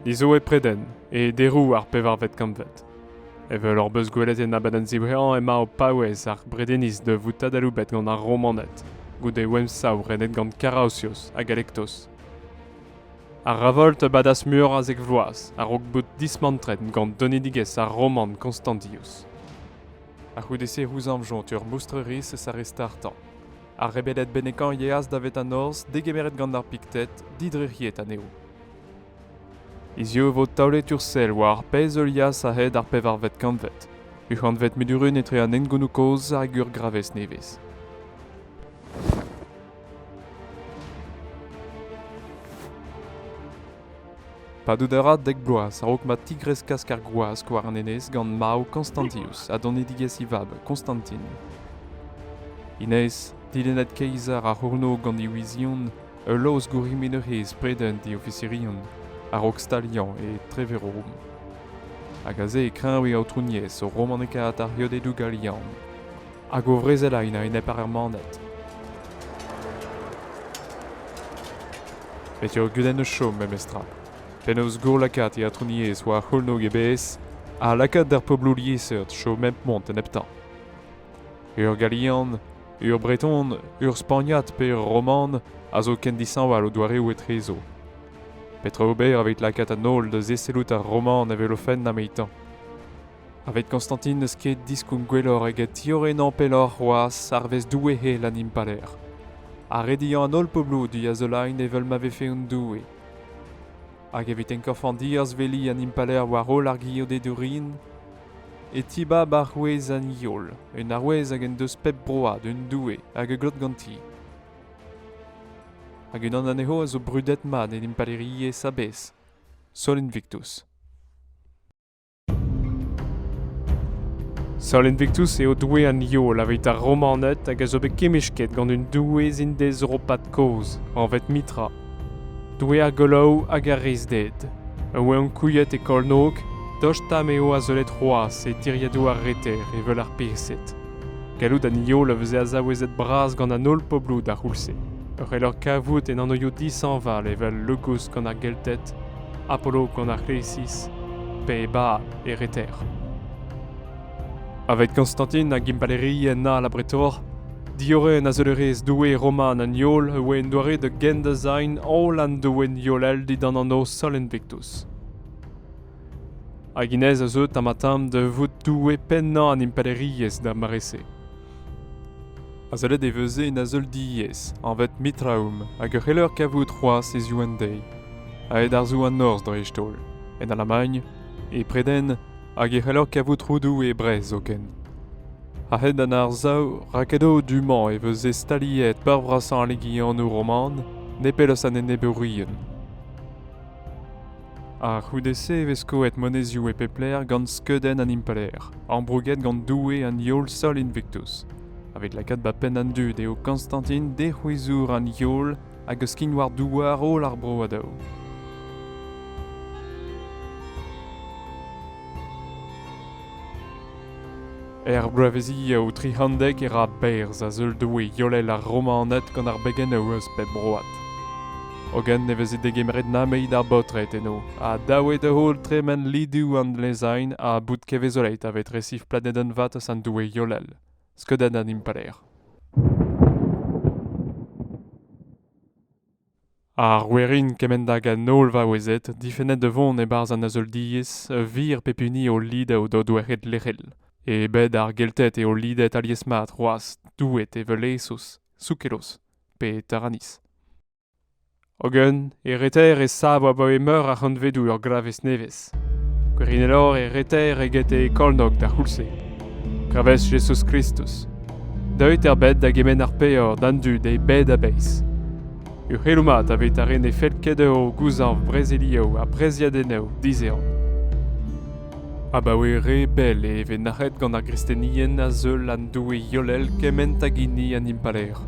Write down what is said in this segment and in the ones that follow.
Ni zo e Preden, e deroù ar pevarvet kantved. Evel hor beus gwelet en abadenn ziwreañ emañ o paouez ar Bredeniz da vout adaloubet gant ar Romaned, goude o emsav renet gant Karaosios ha Galektos. Ar revolt a badas meur a zek vloaz a-raok bout dismantret gant donedigezh ar roman Constantius. A-c'houde-se c'houzañvjont ur moustreriz aristartañ. Ar rebeded bennekañ yeas da Vetanos degemeret gant ar Pikted didrec'hiet anezho. Hiziv e vo taolet ur sell war ar pezh heulias a-hed ar pevarvet kantved, uc'hanvet Medurun etre an hengounioù kozh hag ur gravez nevez. Padout a ra dek bloaz a-raok ma tigreskas ar gwazh war an enez gant marv Konstantius ha donedigezh e vab Konstantin. Inez, dilennet keizar ar c'hourno gant e wizion, ul laoz gourimin ur c'hez preudent e ofisirion, a-raok staliañ e Treverom. Hag aze e kreñv e aotrouniezh o romanekaat ar c'heodedoù galian. hag o vrezel a-enep ar Germaned. Bet eo gudenn eus chom memestra. Penaos gourlakaat e atrouniezh war c'houlnog e bez ha lakaat d'ar pobloù liesseurt chom mep mont en heptañ. Ur Galian, ur Breton, ur Spagnad pe ur Roman a zo ken dishañval o doareoù etrezo. Petra ober evit lakaat an holl da zesellout ar Roman evel o fenn amaitañ? Evit Konstantin n'eus ket diskoulm gwelloc'h eget tiorrenañ pelloc'h c'hoazh arvest Doue hel an impalaer. Ha rediañ an holl poblidi a zelain evel ma vefe un doue. Hag evit enkorfañ diazveliñ an impalaer war holl ar geodedourien, e tibab arouez an heol, un arouez hag en deus pep broad un doue hag a glot ganti. Hag unan anezho a zo brudet-mat en impalaeriezh a-bezh, Sol Invictus. Sol Invictus eo doue an Yol aveit ar Romaned hag a zo bet kemmesket gant un doueez indezeuropat kozh, anvet Mitra. Doue ar goloù hag ar reizhded. A oa ankouaet e kornôg, tost ha m'eo azeulet c'hoazh e tiriadoù ar reter evel ar Persed. Gallout an Yol a veze azaouezet bras gant an holl pobloù d'ar c'houlz-se. Ur c'hellor kavout en anvioù dishañval evel Le Gousk gant ar Gelted, Apollo gant ar resis pe e bab e reter. Avet Konstantin hag impalaerien all abretoc'h, diorren azeulerezh doue roman an Yol e oa en doare da gendezañ holl an doenn yolel dindan an Osalan Invictus. Hag hennezh a zeu tamm-ha-tamm da vout doue pennañ an impalaeriezh d'ar mare-se. Azeulet e veze en azeulidigezh anvet Mitraoum hag e c'heller kavout c'hoazh hiziv an deiz, aet arzoù an norzh dreist-holl, en Alamagn, e Preden hag e c'heller kavout roudoù e Brest zoken. A-hed an arsav rakedoù du-mañ e veze staliet peur brasañ legionoù roman nepell eus an enebourien. A-c'houde-se e vez skoet monezioù e pep lec'h gant skeudenn an impalaer, ambrouget gant doue an Yohl Sol Invictus. Evit lakaat 'ba penn an dud eo Konstantin dic'houizour an Yohl hag eus skign war douar holl ar bro a daou. Er bloavezhioù tri c'hantved e ra berzh a-zeul doue yollel ar Romaned gant ar begennoù eus pep broad. Hogen ne veze degemeret nameit ar baotred eno, ha dav eo da-heul tremen lidoù an lezain ha bout kevezolet aveit resiv planedenn vat eus an doue yollel, skeudenn an impalaer. Ar werin kement hag an holl vaouezed difennet da vont e-barzh an azeuliezh a vir pep hini o lidañ d'o doueed lec'hel. E bed ar Gelted eo lidet alies-mat c'hoazh doueed evel Esos, Soukelos pe Taranis. Hogen, e reter e sav abaoe meur a c'hantvedoù ur glavez nevez. Gwirionelor e reter eget e Kolnog d'ar c'houlz-se. Gravez Jezuz Kristus. Deuit er bed da gemenn ar peor d'an dud e bed a-bezh. Uc'helloù mat aveit ar re ne fell ket dezho gouzañv brezeliou ha breziadennoù dizehan. Abaoe re bell e vez nac'het gant ar gristenien a zeul an Doue Iolel kement hag hini an Impalaer.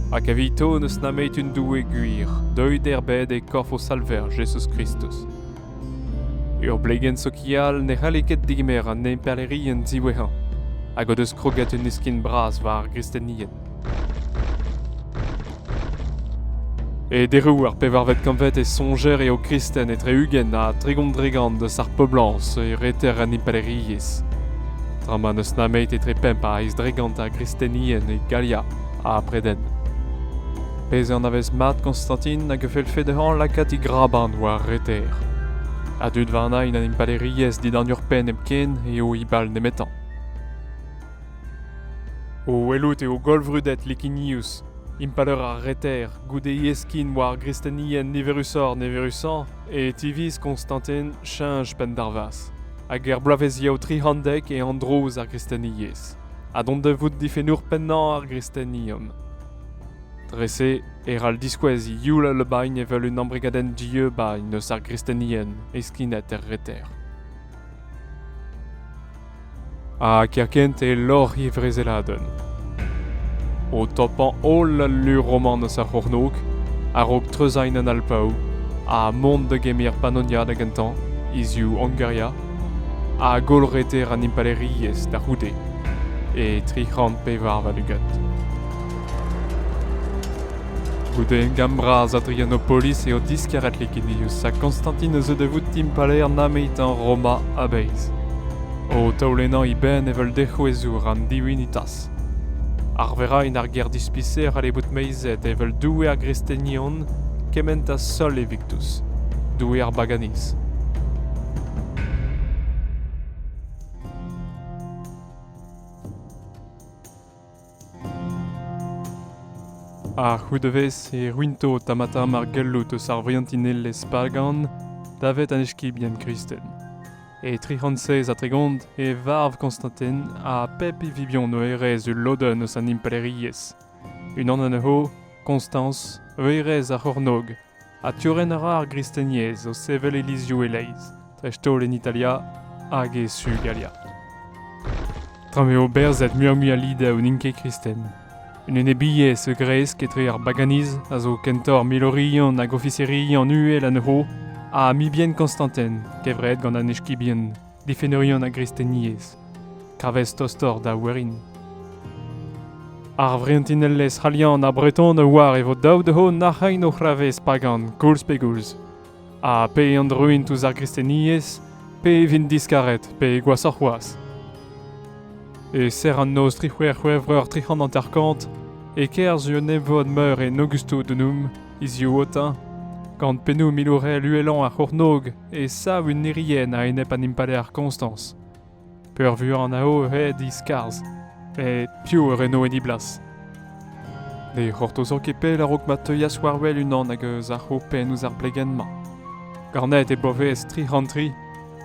Hag evito n'eus nameit un Doue gwir, deuit er bed e korf o Salver Jezuz Kristus. Ur blegenn sokial ne c'halle ket degemer an impalaerien diwezhañ hag o deus kroget un iskin bras war ar gristenien. E deroù ar pevarvet kantved e soñjer eo kristen etre-ugent ha tregont-dregont eus ar poblañs e reter an impalaeriezh, tra ma n'eus nemet etre pemp a eizh dregont a gristenien e Galia ha Preden. Bez' anavez mat Konstantin hag a fellfe dezhañ lakaat e graban war ar reter. A dud warnañ int an impalaeriezh dindan ur penn hepken eo he bal nemetañ. O welout eo gollvrudet Licinius, impalaer ar reter, goude yeskin war ar gristenien niverusoc'h-niverusañ, e tiviz Konstantin cheñch penndarvaz, hag er bloavezhiañ tri c'hantved e androz ar gristeniezh, ha dont da vout difennour pennañ ar gristenium. Dre-se e c'hall diskouez youl Albain evel un embregadenn dieubbañ eus ar gristenien heskinet er reter. Ha kerkent e loc'h e vrezeladenn. O topañ holl al lu roman eus ar c'hornôg, a-raok treuzañ an Alpaoù ha mont da gemer Pannonia da gentañ, e su Hungaria, a gollreter an impalaeriezh da c'houde e tri c'hant pevar warn-ugent. Goude emgann bras Adrianopolis eo diskaret Licinius ha Konstantin a zeu da vout impalaer nameetañ Roma a-bezh, o taolennañ e benn evel dec'houezour an diwinitañ. Arveraén ar gêr-dispiser a c'halle bout meizet evel doue ar gristenion kement ha sol Evictus, doue ar baganiz. A-c'houde-vez e ruinto tamm-ha-tamm ar galloud eus ar vriantinelezh pagan davet an eskibien kristen. E tri c'hant seizh ha tregont e varv Konstantin ha pep e vibion o hêrezh ul lodenn eus an impalaeriezh. Unan anezho, Konstañs, hêrezh ar c'hornôg, ha tiorren a ra ar gristeniezh o sevel ilizioù e-leizh, dreist-holl en Italia hag e su Galia. Tra m'eo berzet muioc'h-mui a lidaoù n'int ket kristen. Un enebiezh a gresk etre ar baganiz a zo kentoc'h milorian hag ofiserian uhel anezho ha mibien Konstantin, kevret gant an eskibien, difennerion ar gristeniezh. Kravez tostoc'h da werin. Ar vrientinelezh c'halian ha breton a oar e vo dav dezho nac'hañ o c'hravez pagan koulz pe goulz. Ha pe int ruint ouzh ar gristeniezh, pe e vint diskaret, pe gwashoc'h c'hoazh. E ser an noz tri c'hwec'h C'hwevrer tri c'hant hanter-kant, e-kerzh un evod meur en Augustou-Dunum, hiziv Aotin, gant pennoù milourel uhelañ ar c'hornôg, e sav un irienn a-enep an impalaer Konstañs. peurvuiañ an ao eo aet e-skarzh pe piv a reno enni blas. Ne c'hortozo ket pell a-raok ma teuas war-wel unan hag eus ar c'hopenn ouzh ar blegenn-mañ. Garnet e bloavezh tri c'hant tri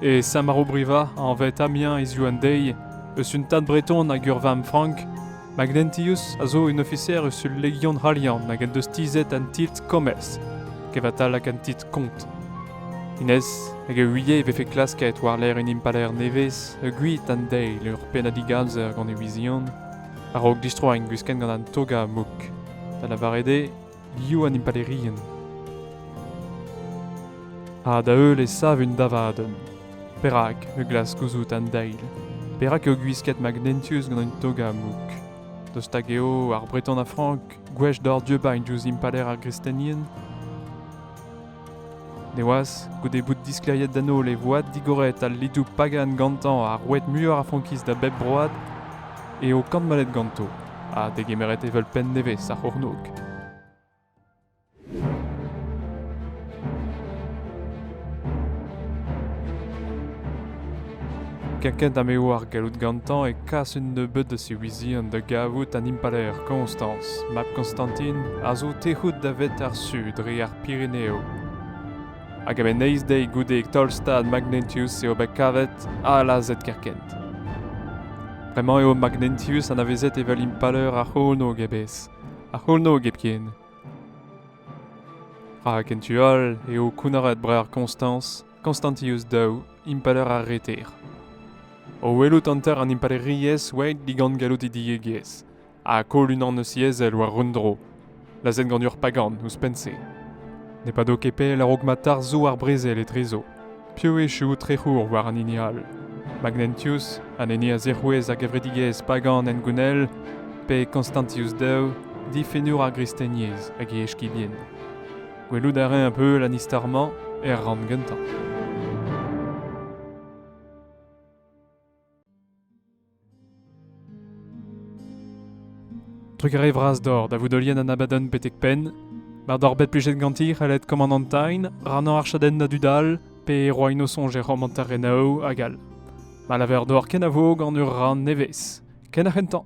e Samarobriva, anvet Amiens hiziv an deiz, eus un tad breton hag ur vamm frank, Magnentius a zo un ofiser eus ul legion c'halian hag en deus tizhet an titl Komez, kevatalak an titl kont. Inez hag e ouie e vefe klasket war-lerc'h un impalaer nevez e gwit an deiz ur pennad digalzer gant e wizion a-raok distroiñ gwiskenn gant an toga mouk, da lavaret eo biv an impalaerien. Ha da-heul e sav un davadenn. Perak me glask gouzout an deil? Perak eo gwisket magnentius gant un toga mouk? Dost hag eo ar Breton a Frank gwech dor diebañ diouzh impalaer ar gristenien? Neoazh, goude bout disklêriet d'an holl e voad digoret al lidoù pagan gantañ ha roet muioc'h a frankiz da bep broad, eo kantmalet ganto ha degemeret evel penn nevez ar c'hornôg. Kaket eo ar galloud gantañ e kas un nebeud eus e wizien da gavout an impalaer Koñstañs, mab Koñstantin, a zo tec'hout davet ar su dre ar Pireneoù. Hag a-benn eizh deiz goude taol-stad Magnentius eo bet kavet ha lazhet kerkent. Bremañ eo Magnentius anavezet evel impalaer ar c'hornôg e-bezh, ar c'hornôg hepken. Rak en tu all eo kounnaret breur Koñstañs, Constantius daou, impalaer ar reter. O welout hanter an impalaeriezh oa digant gallout he diegezh, ha koll unan eus he ezel war un dro, lazhet gant ur pagan ouzhpenn-se. Ne pado ket pell a-raok ma tarzho ar brezel etrezo, piv echu trec'hour war an hini all. Magnentius, an hini a zic'houez a gevredigezh pagan hengounel, pe Constantius II, difennour ar gristeniezh hag e eskibien. Gwelout a rae un peu Lannister-mañ er rann gentañ. Truc re vras dor da vout olienn an abadenn betek penn, mar doc'h bet plijet ganti c'hellet Commandantine, rannañ ar chadenn a dud all, pe roañ no soñj er romanter renaoù hag all. Ma laver dor kenavo gant ur rann nevez, ken ar c'hentañ.